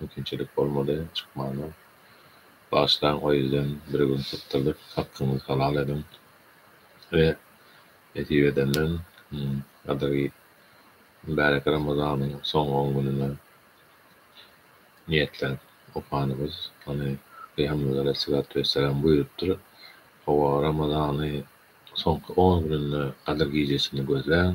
Mümkinçilik bolmady çykmaga. Bagyşlaň o ýerden bir gün sypdyrdyk hakkyňyzy halal ediň we nesip edenden gadyry mübärek Ramazanyň soňky on gününe niýetlenip okanymyz ony Pygamberimiz Aleyhissalatu Wessalam buýrupdyr. Hawa Ramazany soňky on gününde gadyr gijesini gözläň.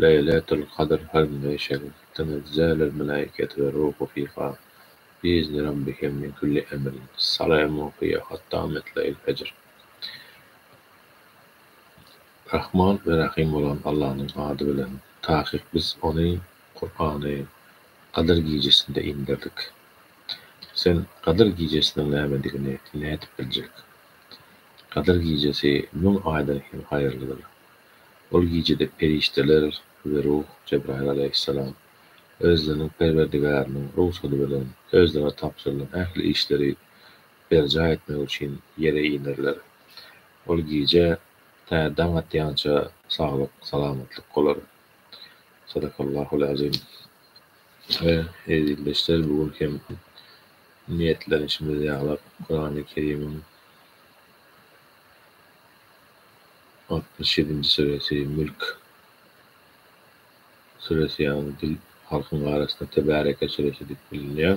Leýletül Kadr Hyrynda şeýle diňe düzäler Melaýketi we Ruhu fiha biizni Rabbihim min külli emrin, Salamun hiýe hatta metlail fejr. Rahman we Rahym bolan Allanyň ady bilen, takyk Biz ony, Kurany, Gadyr gijesinde inderdik. Sen Gadyr gijesiniň nämedigini nädip biljek? Gadyr gijesi müň aýdan hem haýyrlydyr. Ol gijede perişdeler we ruh, Jebraýyl alaýhyssalam, özleriniň Perwerdigäriniň rugsady bilen özlerine tabşyrylan ähli işleri berjaý etmek üçin ýere inerler. Ol gije tä daň atýança saglyk, salamatlyk bolar. Sadakallahul azim. We, ezizdeşler, bu gün hem niýetlenişimiz ýalap, Kurany Kerimiň. Altmyş ýedinji süresi, Mülk süresi ýaly dil halkyň arasynda Tebareke süresi diýip bilinýär.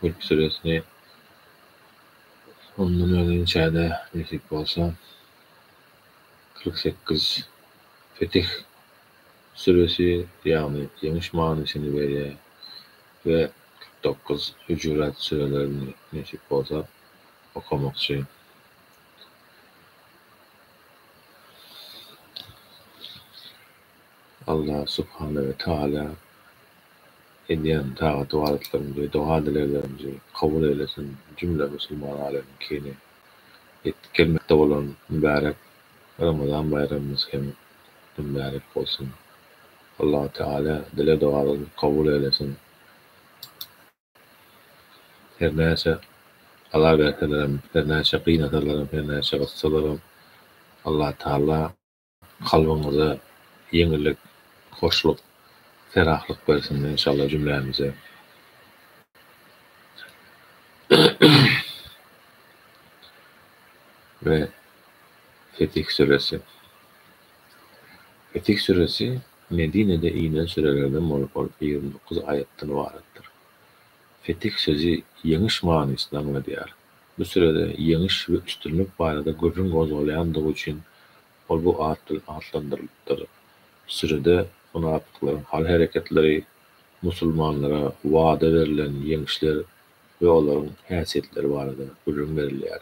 Mülk süresini ondan öň inşada nesip bolsa kyrk sekiz Fetih süresi ýagny ýeňiş manysyny berýär we kyrk dokuz Hujurat sürelerini nesip bolsa okamakçy. Allah subhana we taala edýän tagat ybadatlarymyzy, doga-dileglerimizi kabul eylesin, jümle musulman alemkini ýetip gelmekde bolan mübärek Ramazan baýramymyz hem mübärek bolsun. Allah taala dile-dogalarymyzy kabul eylesin. Her näçe aza berselerem, her näçe gynasalaram, her näçe gyssalaram, Allatagala kalbyňyza ýeňillik, hoşluk, ferahlyk bersin enşalla jümlämize. We Fetih Süresi. Fetih süresi Medinede inen sürelerden bolup, ol ýigrimi dokuz aýatdan ybaratdyr. Fetih sözi ýeňiş manysyny aňladýar. Bu sürede ýeňiş we üstünlik barada gürrüň gozgalýandygy üçin ol bu at bilen atlandyrylypdyr. Sürede mynapyklaryň hal-hereketleri, musulmanlara wada berlen ýeňişler we olaryň häsiýetleri barada gürrüň berilýär.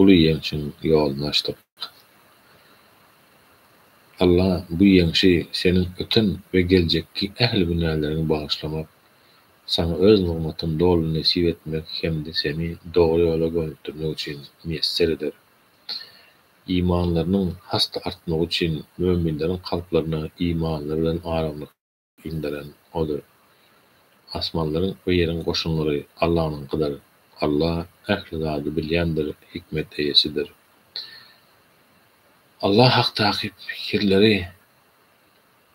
Uly ýeňşiň ýoluny açdyk. Alla bu ýeňşi seniň öten we geljekki ähli günäleriňi bagyşlamak, saňa öz nygmatyny doly nesip etmek hem-de seni dogry ýola gönükdirmek üçin miýesser eder. Imanlarynyň has-da artmagy üçin möminleriň kalplaryna imanlary bilen aramlyk. Inderen Odur. Asmanlaryň we ýeriň goşunlary Allanyňkydyr. Alla ähli zady bilýändir, hikmet eýesidir. Alla hakdaky pikirleri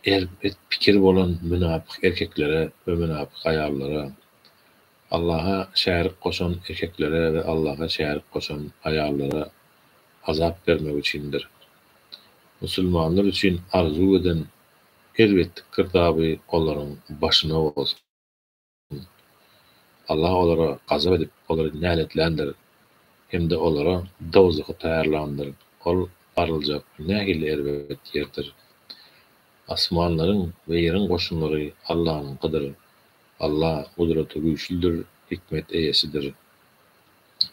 erp-et pikir bolan mynapyk erkeklere we mynapyk aýallara, Allaha şärik goşan erkeklere we Allaha şärik goşan aýallara azap bermek üçindir. Musulmanlar üçin arzuw eden Elbetde girdaby olaryň başyna bolsun. Allah olara gazap edip, olary näletländir hem-de olara dowzahy taýýarlandyr, ol baryljak nähili erbet ýerdir! Asmanlaryň we ýeriň goşunlary Allanyňkydyr. Allah gudraty güýçlüdir, hikmet eýesidir.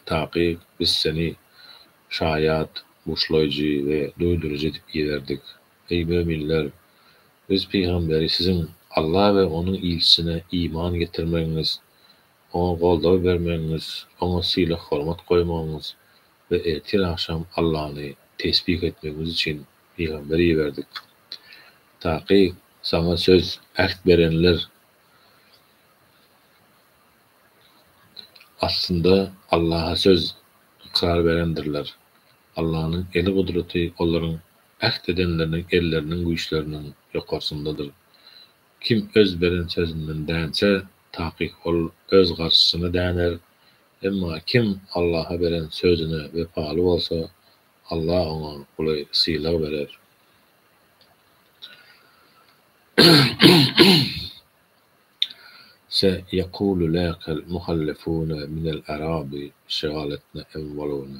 Takyk, biz seni şaýat, buşlaýjy we duýduryjy edip iberdik. Eý möminler! Biz pygamberi siziň Alla we Onuň ilçisine iman getirmegiňiz, oňa goldaw bermegiňiz, oňa sylag-hormat goýmagyňyz we ertir-agşam Allany tesbih etmegiňiz üçin pygamber iberdik. Taky saňa söz, äht, berenler aslynda Allaha söz, ykrar berendirler. Allanyň eli-gudraty olaryň Äht edenleriniň elleriniň güýçleriniň ýokarsyndadyr. Kim öz beren sözünden dänse, takyk ol öz garşysyna däner. Emma kim Allaha beren sözüne wepaly bolsa, Alla oňa uly sylag berer. Se ýekulu läkel muhallefune minel arabi şegaletne enwalune.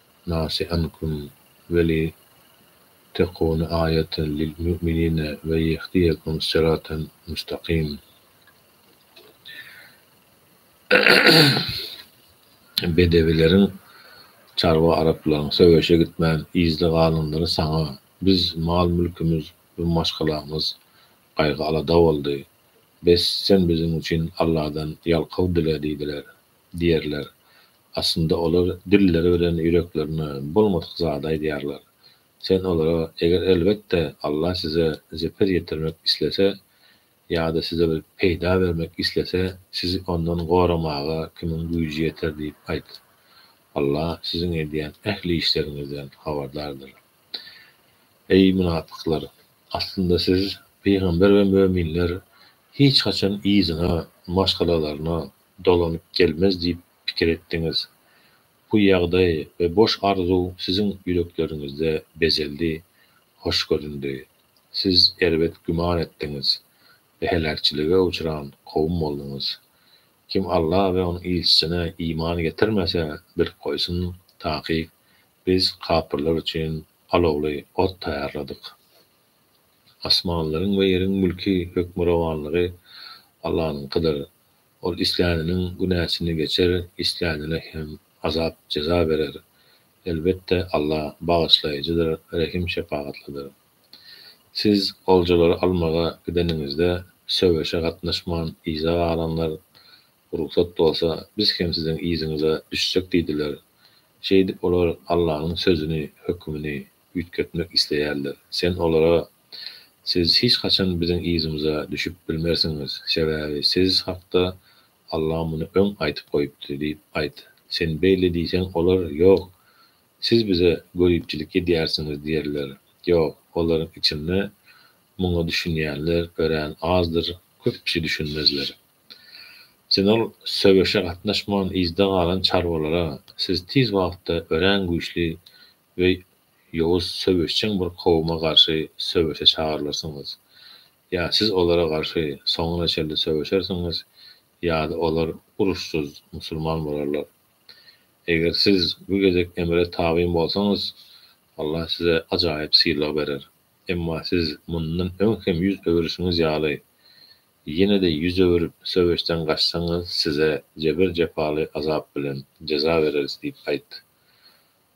Nasihankum, weli tekuni aýatan lil müminine we ýehdiýekum siratan mustagym. Bedewileriň, çarwa araplaryň, söweşe gitmän yzda galanlary saňa, biz, mal-mülkimiz we maşgalamyz gaýgy-alada boldy. Bes, sen biziň üçin Alladan ýalkaw dile diýdiler. diýerler. Aslynda olar dilleri bilen ýüreklerine bolmadyk zady aýdýarlar. Sen olara eger elbetde Allah size zeper ýetirmek islese ýa-da size bir peýda bermek islese sizi ondan goramaga kimiň güýji ýeter diýip aýt. Allah siziň edýän ähli işleriňizden habardardyr. Eý mynapyklar! Aslynda siz, pygamber we möminler hiç haçan yzyna, maşgalalaryna, dolanyp gelmez diýip pikir etdiňiz. Bu ýagdaý we boş arzuw siziň ýürekleriňizde bezeldi, hoş göründi. Siz erbet güman etdiňiz we heläkçilige uçran kowum bolduňyz. Kim Alla we Onuň ilçisine iman getirmese, bilip goýsun, takyk, Biz kapyrlar üçin alowly ot taýýarladyk. Asmanlaryň we ýeriň mülki, hökmürowanlygy Allanyňkydyr. Ol isläniniň günäsini geçer, islänine hem azap-jeza berer. Elbetde, Alla Bagyşlaýjydyr, Rehim-şepagatlydyr. Siz oljalary almaga gideniňizde, söweşe gatnaşman yza galanlar, Rugsat bolsa, biz hem siziň yzyňyza düşsek diýdiler. Şeýdip, olar Allanyň sözüni, hökümini, üýtgetmek isleýärler. Sen olara, Siz hiç haçan biziň yzymyza düşüp bilmersiňiz, sebäbi siz hakda Allah muny öň aýtyp goýupdy diýip aýt. Sen beýle diýseň, olar, Ýok, siz bize göripçilik edýärsiňiz diýerler. Ýok, olaryň içinde muňa düşünýänler örän azdyr, köp kişi düşünmezler. Sen ol söweşe gatnaşman yzda galan çarwalara, Siz tiz wagtda örän güýçli we ýowuz söweşjeň bir kowuma garşy söweşe çagyrylyrsyňyz. Ýa siz olara garşy soňuna çenli söweşersiňiz, ýa-da olar uruşsyz musulman bolarlar. Eger siz bu gezek emre tabyn bolsaňyz, Allah size ajaýyp sylag berer. Emma siz mundan öň hem ýüz öwürişiňiz ýaly, ýene-de ýüz öwürip, söweşden gaçsaňyz, size jebir-jepaly azap bilen jeza bereris diýip aýt.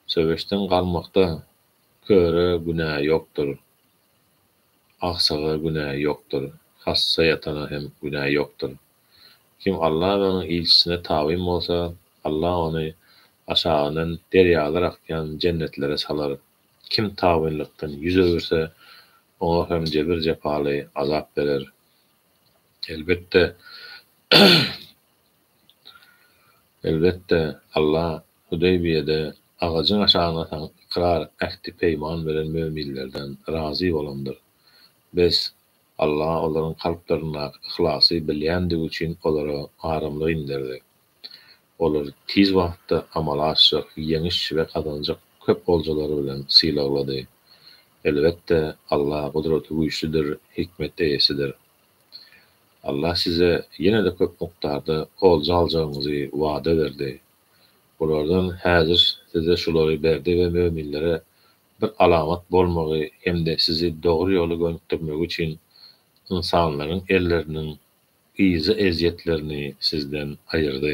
Söweşden galmakda köre günä ýokdur, agsaga günä ýokdur, hassa ýatana hem günä ýokdur. Kim Alla we onuň ilçisine tabyn bolsa, Alla ony aşagyndan derýalar akýan jennetlere salar. Kim tabynlykdan ýüz öwürse, oňa hem jebir-jepaly azap berer. Elbetde, elbetde, Alla Hudeybiýede agajyň aşagyna asan ykrar ähti-peýman beren möminlerden razy bolandyr. Bes, Alla olaryň kalplaryndaky yhlasy bilýändigi üçin olara aramlyk inderdi. Olary tiz wagtda amala aşjak ýeňiş we gazanjak köp oljalary bilen sylaglady. Elbetde, Alla gudraty güýçlüdir, hikmet eýesidir. Alla size ýene-de köp mukdarda olja aljagyňyzy wada berdi. Bulardan häzir size şulary berdi we möminlere bir alamat bolmagy hem-de sizi dogry ýola gönükdirmegi üçin ynsanlaryň elleriniň yza ezýetlerini sizden aýyrdy.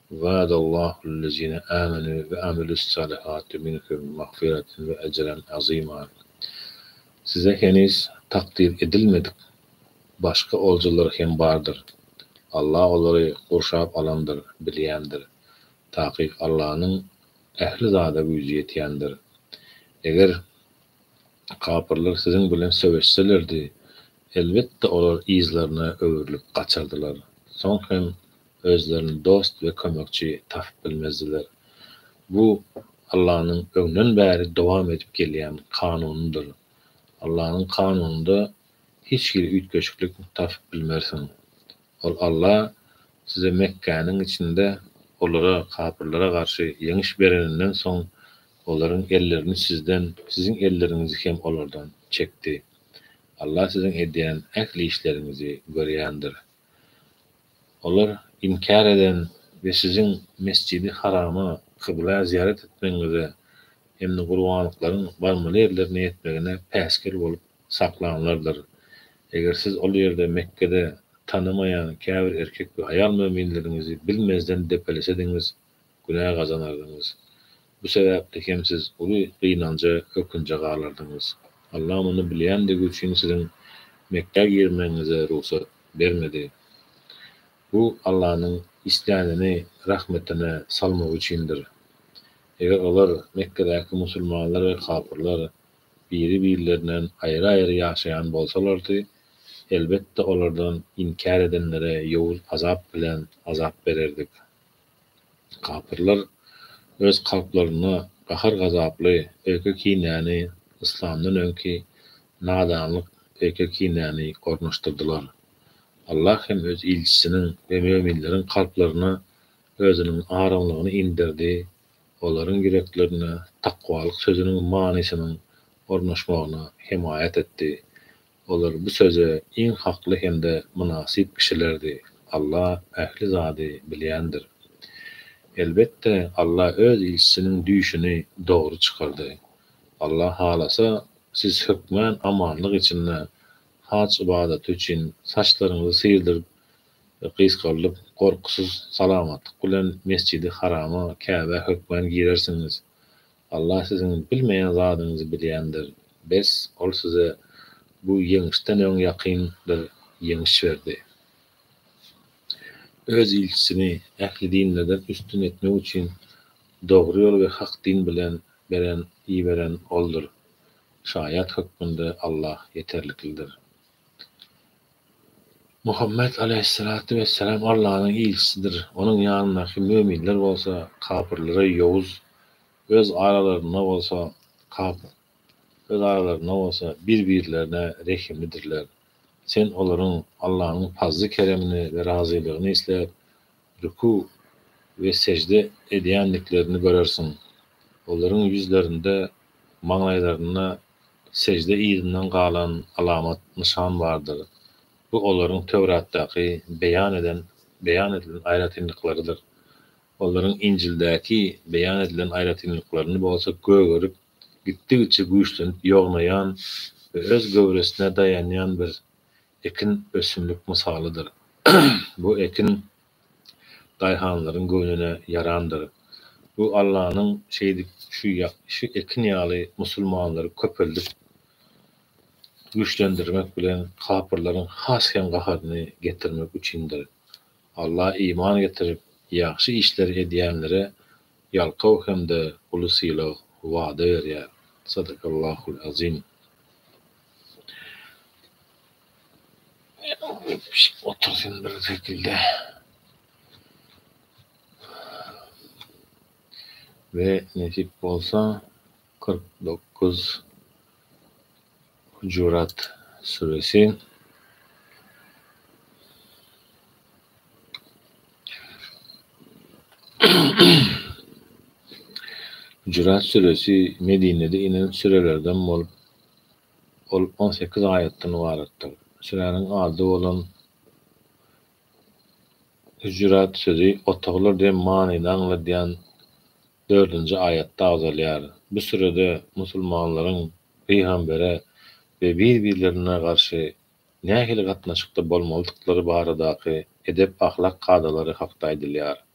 Wa'adallahul-lezine amenu we amilussalihati minhum magfiratan we ejran aziman. Size heniz takdyr edilmedik başga oljalar hem bardyr. Allah olary gurşap alandyr, bilýändir. Takyk Allanyň ähli zada güýji ýetýändir. Eger kapyrlar siziň bilen söweşselerdi, elbetde olar yzlaryna öwrülip gaçardylar. Soň hem özlerine dost we kömekçi tapyp bilmezdiler. Bu Allanyň öňden bäri dowam edip gelýän kanunydyr. Allanyň kanunynda hiç hili üýtgeşiklik tapyp bilmersiň. Ol Alla size Mekgäniň içinde olara, kapyrlara garşy ýeňiş bereninden soň, olaryň ellerini sizden, siziň elleriňizi hem olardan çekdi. Alla siziň edýän ähli işleriňizi görýändir. Olar inkär eden we siziň Mesjidi Harama kybla zyýarat etmegiňize hem-de gurbanlyklaryň barmaly ýerlerine ýetmegine päsgel bolup saklanlardyr. Eger siz ol ýerde Mekgede tanamaýan käbir erkek we aýal möminleriňizi bilmezden depelesediňiz, günä gazanardyňyz. Bu sebäpli hem siz uly gynanja, ökünje galardyňyz. Allah muny bilýändigi üçin siziň Mekgä girmegiňize rugsat bermedi. Bu Allanyň islänini rahmetine salmagy üçindir. Eger olar, Mekgedäki musulmanlar we kapyrlar, biri-birlerinden aýry-aýry ýaşaýan bolsalardy, elbetde olardan inkär edenlere ýowuz azap bilen azap bererdik. Kapyrlar öz kalplarynda gahar gazaply öýke kinäni, yslamdan öňki nadanlyk öýke kinäni ornaşdyrdylar. Allah hem Öz ilçisiniň we möminleriň kalplaryna Özüniň araňlygyny inderdi, olaryň ýüreklerine takwalyk sözüniň manysynyň ornaşmagyna hemaýat etdi. Olar bu söze iň hakly hem-de mynasyp kişilerdi. Alla ähli zady bilýändir. Elbetde, Alla Öz ilçisiniň düýşüni dogry çykardy. Alla halasa, siz hökmän amanlyk içinde haj ybadaty üçin saçlaryňyzy syrdyryp, gysgaldyp, gorkusyz, salamatlyk bilen Mesjidi Harama, Käbä hökmän girersiňiz. Allah siziň bilmeýän zadyňyzy bilýändir. Bes, Ol size bu ýeňişden öň ýakyn bir ýeňiş berdi. Öz ilçisini ähli dinlerden üstün etmek üçin dogry ýol we hak din bilen beren, iberen Oldur. Şaýat hökmünde Allah ýeterliklidir. Muhammet alaýhyssalatu wessalam Allanyň ilçisidir, onuň ýanyndaky möminler bolsa kapyrlara ýowuz, öz aralarynda bolsa kapyr, öz aralarynda bolsa bir-birlerine rehimlidirler. Sen olaryň Allanyň pazly-keremini we razylygyny isläp, rükü we sejde edýändiklerini görersiň. Olaryň ýüzlerinde, maňlaýlarynda Sejde yzyndan galan alamat, nyşan bardyr. Bu olaryň Töwratdaky beýan eden, beýan edilen aýratynlyklarydyr. Olaryň Injildäki beýan edilen aýratynlyklaryny bolsa gögerip, gitdigiçe güýçlenip ýognaýan we öz göwresine daýanýan bir ekin ösümlik mysalydyr. Bu ekin daýhanlaryň göwnüne ýarandyr. Bu Allanyň şeýdip şu ýagşy ekin ýaly musulmanlary köpeldip güýçlendirmek bilen kapyrlaryň has hem gaharyny getirmek üçindir. Alla iman getirip ýagşy işleri edýänlere ýalkaw hem-de uly sylag wada berýär. Sadakallahul azim. Otursyn bir şekilde. We nesip bolsa 49 Hucurat süresi Hucurat süresi Medinede inen sürelerden bolup Ol on sekiz aýatdan ybaratdyr. Süräniň ady bolan Hüjürat sözi otaglar diýen manyny aňladýan dördünji aýatda agzalýar. Bu sürede musulmanlaryň pygambere we bir-birlerine garşy nähili gatnaşykda bolmalydyklary baradaky edep-ahlak kadalary hakda aýdylýar.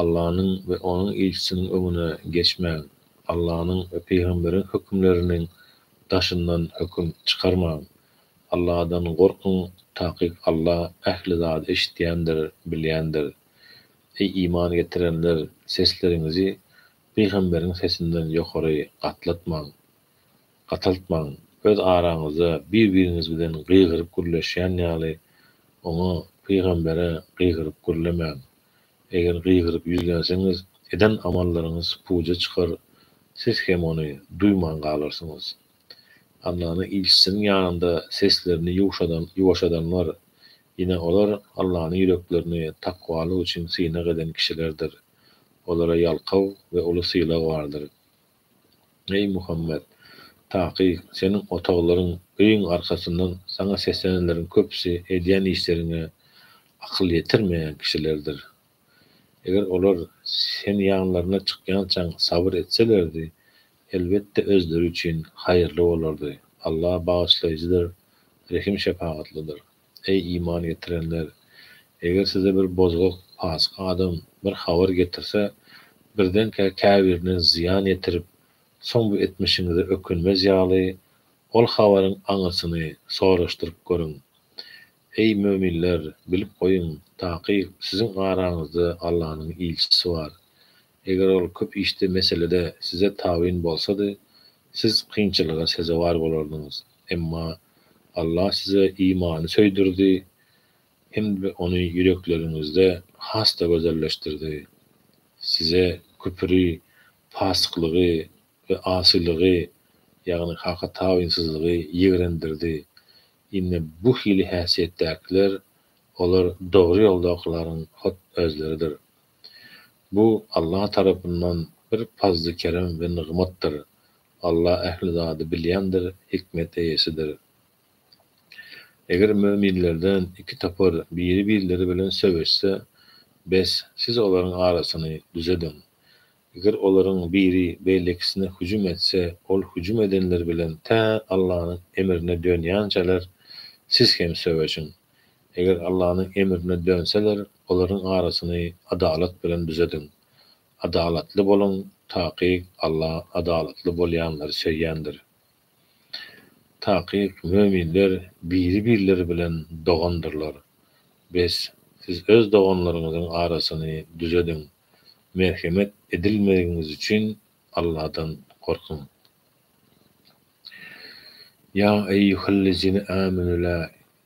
Allanyň we Onuň ilçisiniň öňüne geçmäň, Allanyň we pygamberiň hökümleriniň daşyndan höküm çykarmaň. Alladan gorkuň, takyk Alla ähli zady eşidýändir, bilýändir. Eý, iman getirenler, sesleriňizi pygamberiň sesinden ýokary gatlatmaň, gataltmaň, öz araňyzda bir-biriňiz bilen gygyryp gürleşýän ýaly, oňa, pygambere, gygyryp gürlemäň. Eger gygyryp ýüzlenseňiz, eden amallaryňyz puja çykar, siz hem ony duýman galarsyňyz. Allanyň ilçisiniň ýanynda seslerini ýuwşadan, ýuwaşadanlar, ine, olar Allanyň ýüreklerini takwalyk üçin synag eden kişilerdir. Olara ýalkaw we uly sylag bardyr. Eý, Muhammet! Takyk, seniň otaglaryň öýüň arkasyndan saňa seslenenleriň köpüsi edýän işleriňe akyl ýetirmeýän kişilerdir. Eger olar sen ýanlaryna çykýançaň sabyr etselerdi, elbetde, özleri üçin haýyrly bolardy. Allah Bagyşlaýjydyr, Rehim-şepagatlydyr. Eý, iman getirenler! Eger size bir bozgak, pasyk adam bir habar getirse, birdenkä käbirine zyýan ýetirip, soň bu etmişiňize ökünmez ýaly, ol habaryň aňyrsyny soraşdyryp görüň. Eý, möminler, bilip goýuň, takyk, siziň araňyzda Allanyň ilçisi bar. Eger ol köp işde, meselede size tabyn bolsady, siz kynçylyga sezewar bolardyňyz. Emma Allah size imany söýdürdi hem-de ony ýürekleriňizde has-da gözelleşdirdi. Size küpri, pasyklygy we asylygy, ýagny Haka tabynsyzlygy ýigrendirdi. Ine, bu hili häsiýetdäkiler, olar dogry ýoldakylaryň hut özleridir. Bu Allah tarapyndan bir pazly-kerem we nygmatdyr. Allah ähli zady bilýändir, hikmet eýesidir. Eger möminlerden iki topar biri-birleri bilen söweşse, bes, siz olaryň arasyny düzediň. Eger olaryň biri beýlekisine hüjüm etse, ol hüjüm edenler bilen tä Allanyň emrine dönýänçäler, siz hem söweşiň. Eger Allanyň emrine dönseler, olaryň arasyny adalat bilen düzediň. Adalatly boluň takyk Alla adalatly bolýanlary söýýändir. Takyk möminler biri birleri bilen dogandyrlar. Bes siz öz doganlaryňyzyň arasyny düzediň. Merhemet edilmegiňiz üçin Alladan gorkuň. Ýa eýýuhellezine âmenü lâ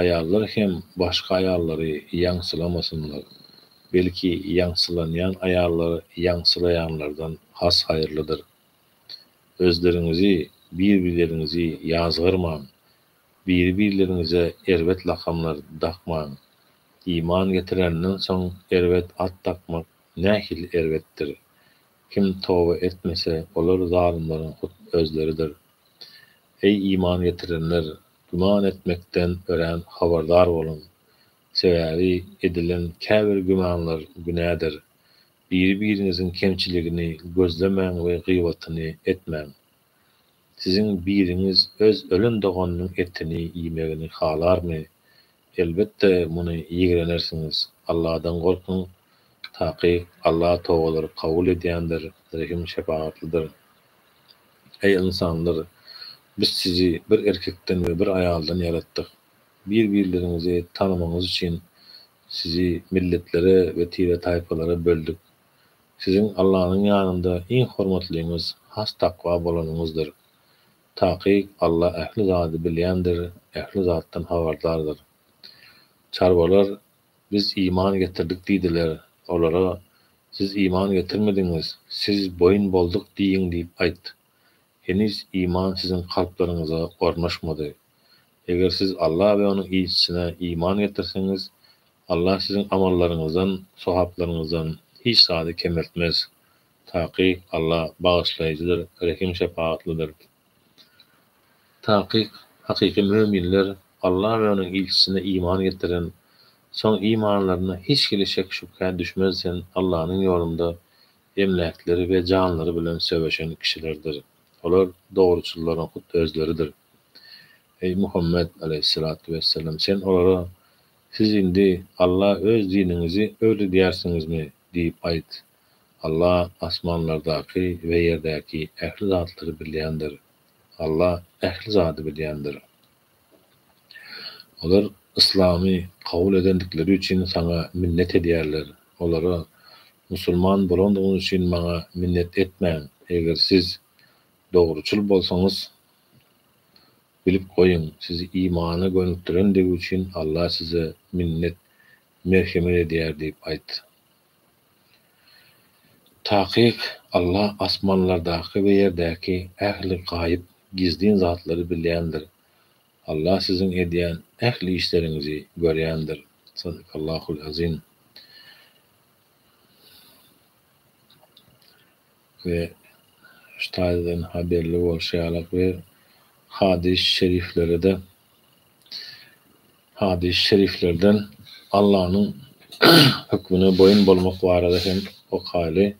Aýallar hem başga aýallary ýaňsylamasynlar, belki ýaňsylanýan aýallar ýaňsylaýanlardan has haýyrlydyr. Özleriňizi, bir-birleriňizi ýazgarmaň, biri-birleriňize erbet lakamlar dakmaň. Iman getirenden soň erbet at dakmak nähili erbetdir! Kim toba etmese, olar zalymlaryň hut özleridir. Eý iman getirenler, Güman etmekden örän habardar boluň. Sebäbi edilen käbir gümanlar günädir. Biri-biriňiziň kemçiligini gözlemäň we gyýbatyny etmäň. Siziň biriňiz öz ölen doganynyň etini iýmegini halarmy? Elbetde muny ýigrenersiňiz. Alladan gorkuň, takyk Alla tobalary kabul edýändir, rehim-şepagatlydyr. Eý, ynsanlar! Biz sizi bir erkekden we bir aýaldan ýaratdyk. Bir-birleriňizi tanamagyňyz üçin sizi milletlere we tire-taýpalara böldük. Siziň Allanyň ýanynda iň hormatlyňyz has takwa bolanyňyzdyr. Takyk Alla ähli zady bilýändir, ähli zatdan habardardyr. Çarwalar, Biz iman getirdik diýdiler. Olara, Siz iman getirmediňiz, siz boýun bolduk diýiň diýip aýt. Heniz iman siziň kalplaryňyza ornaşmady. Eger siz Alla we Onuň ilçisine iman getirseňiz, Alla siziň amallaryňyzdan, sogaplaryňyzdan hiç zady kemeltmez. Takyk Alla bagyşlaýjydyr, rehim-şepagatlydyr. Takyk hakyky möminler Alla we onuň ilçisine iman getiren, soň imanlarynda hiç hili şek-şübhä düşmezsen Allanyň ýolunda emläkleri we janlary bilen söweşen kişilerdir. Olar dogruçyllaryň hut özleridir. Eý, Muhammet, aleýhyssalatu wessalam, sen olara, Siz indi Alla öz diniňizi öwredýärsiňizmi? diýip aýt. Alla asmanlardaky we ýerdäki ähli zatlary bilýändir. Alla ähli zady bilýändir. Olar yslamy kabul edendikleri üçin saňa minnet edýärler. Olara, Musulman bolandygyňyz üçin maňa minnet etmäň. Eger siz dogruçyl bolsaňyz, bilip goýuň, sizi imana gönükdirendigi üçin Alla size minnet, merhemet edýär diýip aýt. Takyk Alla asmanlardaky we ýerdäki ähli gaýyp, gizlin zatlary bilýändir. Alla siziň edýän ähli işleriňizi görýändir. Sadakallahul azim. we Ştaýlden haberli bolşy ýaly we hadys şeriflere-de hadys şeriflerden Allanyň hökmüne boýun bolmak barada hem okaýly.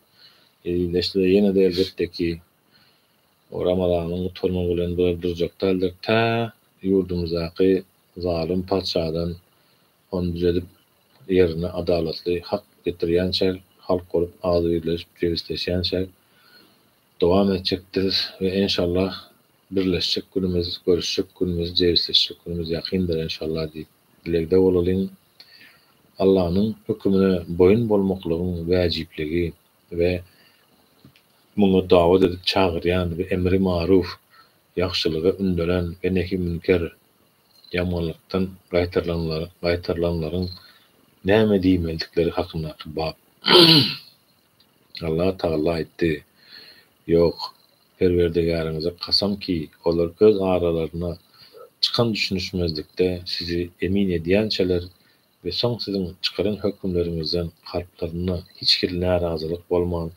Ezizleşse-de ýene-de elbetde ki o Ramazanyň gutarmagy bilen bu ýerde durjak däldir tä ýurdumyzdaky zalym patyşadan Ony düzedip, ýerine adalatly hak getirýänçä, halk bolup agzybirleşip jebisleşýänçä dowam etjekdiris we enşallah birleşjek günümiz, görüşjek günümiz, jebisleşjek günümiz ýakyndyr enşallah diýip dilegde bolalyň. Allanyň hökümine boýun bolmaklygyň wäjipligi we muňa dawet edip çagyrýan we emri maruf, ýagşylyga ündelen we nehi münker, Ýamanlykdan gaýtarylanlaryň näme diýmeldikleri hakyndaky bap. Allatagala aýtdy, Ýok, Perwerdigäriňize kasam ki, olar öz aralaryna çykan düşünişmezlikde sizi emin edýänçäler we soň siziň çykaran hökümleriňizden kalplarynda hiç hili närazylyk bolman,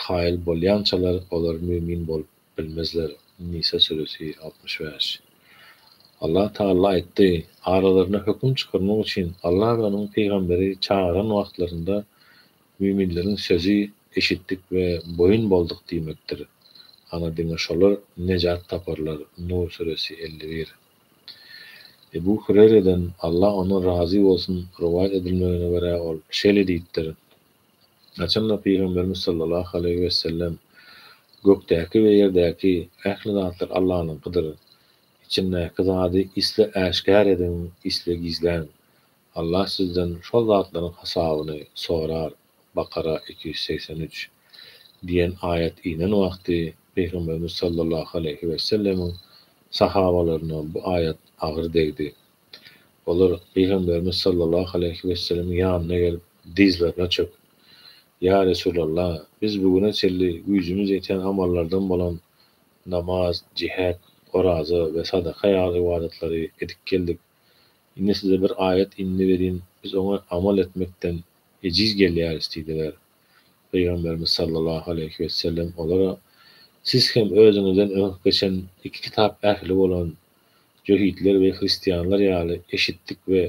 kaýyl bolýançalar olar mümin bolup Bilmezler, Nisa süresi, altmyş bäş. Allah Tagala aýtdy, Aralaryna höküm çykarmak üçin Allah we Onuň pygamberi çagyran wagtlarynda müminleriň sözi eşitdik we boýun bolduk diýmekdir. Ana diňe şolar nejat taparlar, Nur süresi, elli bir. Ebu Hüreýreden, Allah ondan razy bolsun, rowaýat edilmegine görä ol şeýle diýipdir, Haçanda Pygamberimiz sallallahu aleýhi wesellem, Gökdäki we ýerdäki ähli zatlar Allanyňkydyr. Içindäki zady isle äşgär ediň, isle gizläň. Allah sizden şol zatlaryň hasabyny sorar, Bakara iki ýüz segsen üç, diýen aýat inen wagty Pygamberimiz sallallahu aleýhi wesellemiň sahabalaryna bu aýat agyr degdi. Olar Pygamberimiz sallallahu aleýhi wesselemiň ýanyna gelip, dyzlaryna çöküp, Ýa Resulalla, biz bu güne çenli güýjümiz ýeten amallardan bolan namaz, jihät, oraza we sadaka ýaly ybadatlary edip geldik. Indi size bir aýat indi welin, biz oňa amal etmekden ejiz gelýäris diýdiler. Pygamberimiz sallallahu aleýhi wesellem olara, Siz hem özüňizden öň geçen iki kitap ähli bolan jöhitler we hristianlar ýaly eşitdik we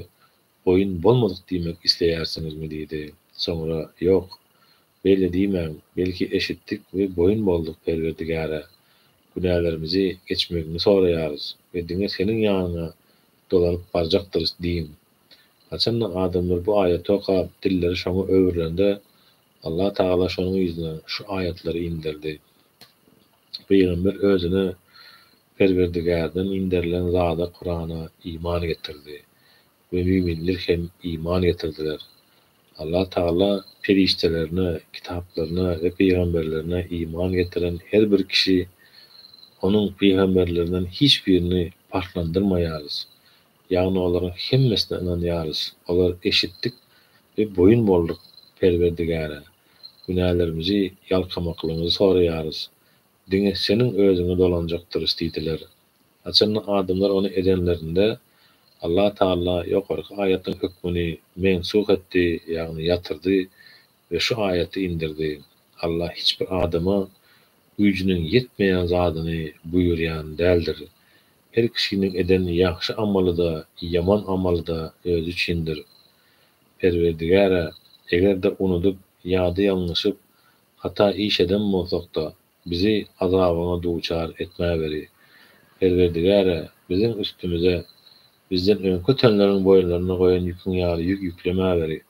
boýun bolmadyk diýmek isleýärsiňizmi? diýdi. Soňra, Ýok, beýle diýmäň, belki eşitdik we boýun bolduk, Perwerdigäre, günälerimizi geçmegiňi soraýarys we diňe Seniň ýanyňa dolanyp barjakdyrys diýiň Haçanda adamlar bu aýaty okap, dilleri şoňa öwrülende, Allah Tagala şonuň yzyna şu aýatlary inderdi. Pygamber özüne Perwerdigärden inderilen zada, Kurana, iman getirdi we müminler hem iman getirdiler. Allah Tagala perişdelerine, kitaplaryna we pygamberlerine iman getiren her bir kişi Onuň pygamberlerinden hiç birini parhlandyrmaýarys Ýagny olaryň hemmesine ynanýarys, olar eşitdik we boýun bolduk Perwerdigäre, günälerimizi, ýalkamaklygymyzy soraýarys, diňe Seniň özüňe dolanjakdyrys diýdiler. Haçanda adamlar ony edenlerinde, Allah Tagala ýokarky aýatyň hökmüni mensuh etdi, ýagny ýatyrdy, we şu aýaty indirdi, Allah hiç bir adama güýjüniň ýetmeýän zadyny buýurýan däldir. Her kişiniň eden ýagşy amaly-da, ýaman amaly-da özi üçindir. Perwerdigär-ä, eger-de unudyp ýa-da ýalňyşyp, hata iş eden bolsak-da, bizi azabyňa duçar etmäweri. Perwerdigär-ä, biziň üstümize, bizden öňki ötenleriň boýunlaryna goýan ýüküň ýaly ýük ýüklemäweri.